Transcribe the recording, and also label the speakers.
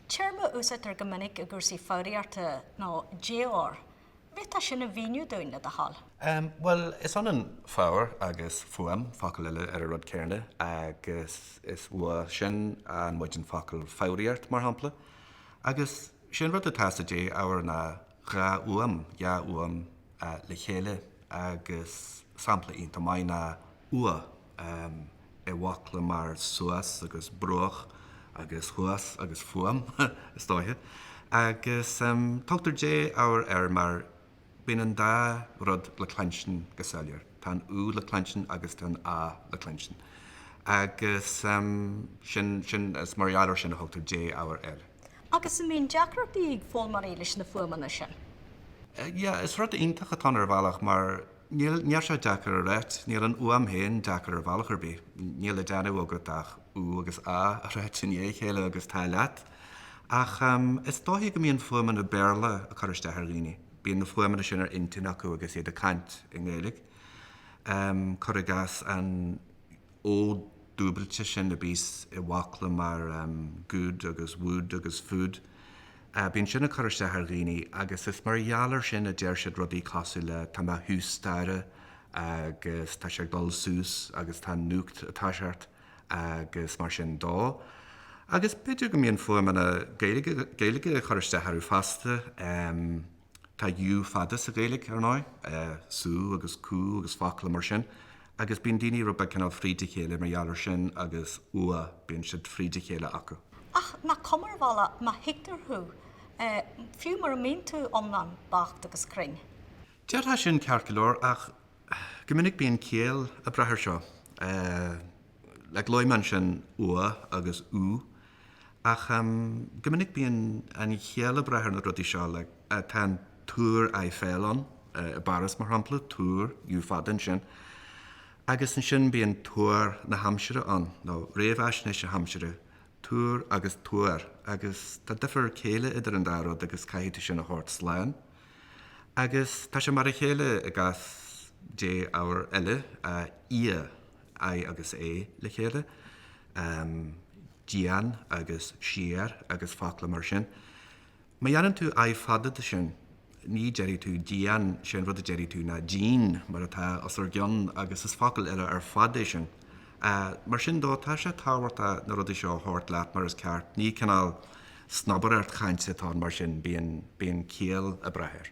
Speaker 1: Téarma a úsáidtear go minic i gcúrsaí foghraíochta ná défhoghar. An dtig leat sin a mhíniú dúinn, le do thoil. Bhuel, is
Speaker 2: ionann foghar agus fuaim, focal eile ar an rud céarna, agus is uaidh sin a fhaigheann muid an focal foghraíocht, mar shampla. Agus sé an rud atá sa défhoghar ná Dhá fhuaim, dhá fhuaim le chéile agus sampla iontach maith ná ua, i bhfocla mar suas agus bruach agus thuas agus fuaim, is dóiche. Agus tugtar défhoghar air mar bíonn an dá rud le cluinstin go soiléir, tá an u le cluinstin agus tá an a le cluinstin. Agus sin, sin, is mar gheall ar sin a thugtar défhoghar air. Agus an
Speaker 1: mbíonn deacrachtaí ag foghlaimeoirí leis na fuaimeanna sin?
Speaker 2: Yeah, is rud iontach atá ann ar bhealach mar níl, níl sé deacair a ráit, níl an fhuaim féin deacair ar bhealach ar bith, níl le déanamh agat ach ú agus á a ráit i ndiaidh a chéile agus tá leat. Ach em, is dóichí go mbíonn fuaimeanna Béarla ag cur isteach ar dhaoine, bíonn na fuaimeanna sin ar intinn acu agus iad ag caint i nGaeilge. Em, cur i gcás an. o dúbailte sin a bíos i bhfocla mar good agus wood agus food. Bíonn sin ag cur isteach ar dhaoine agus is mar gheall ar sin a deir siad rudaí cosúil le tá mé thús staighre agus tá sé ag dul sús agus tá an núcht ar a seacht agus mar sin de. Agus b'fhéidir go mbíonn fuaimeanna Gaeilge ag cur isteach orthu fosta. Tá U fada sa Ghaeilge, ar ndóigh, sú agus cú agus focla mar sin, agus bíonn daoine rud beag cineál fríd a chéile mar gheall ar sin, ú agus ua, bíonn siad fríd a chéile acu. Ach nach cuma
Speaker 1: ar bhealach má thuigtear thú, fiú mura mbíonn tú iomlán beacht agus cruinn? Déarfá sin,
Speaker 2: ceart go leor, ach go minic bíonn ciall ag brath air seo. Like luaigh mé ansin ua agus ú. Ach go minic bíonn an chiall ag brath ar na rudaí seo, like tá an Túr Eiffel ann i bPáras mar shampla, túr, u fada ansin. Agus ansin bíonn tuar na haimsire ann, nó réamhaisnéis na haimsire, túr agus tuar, agus tá difear céille idir an dá rud agus caithfidh tú sin a thabhairt slán. Agus tá sé mar a chéile i gcás défhoghar eile, ia. I agus A le chéile, dian agus siar agus focla mar sin. Má dhéanann tú I fada de sin, ní déarfaidh tú dian, sé an rud a déarfaidh tú ná díon, mar atá os ar gcionn, agus is focal eile ar fad é sin. Mar sin de, tá sé tábhachtach na rudaí seo a thabhairt leat mar is ceart, ní cineál snobaireacht chainte atá ann mar sin, bíonn ciall ag brath air.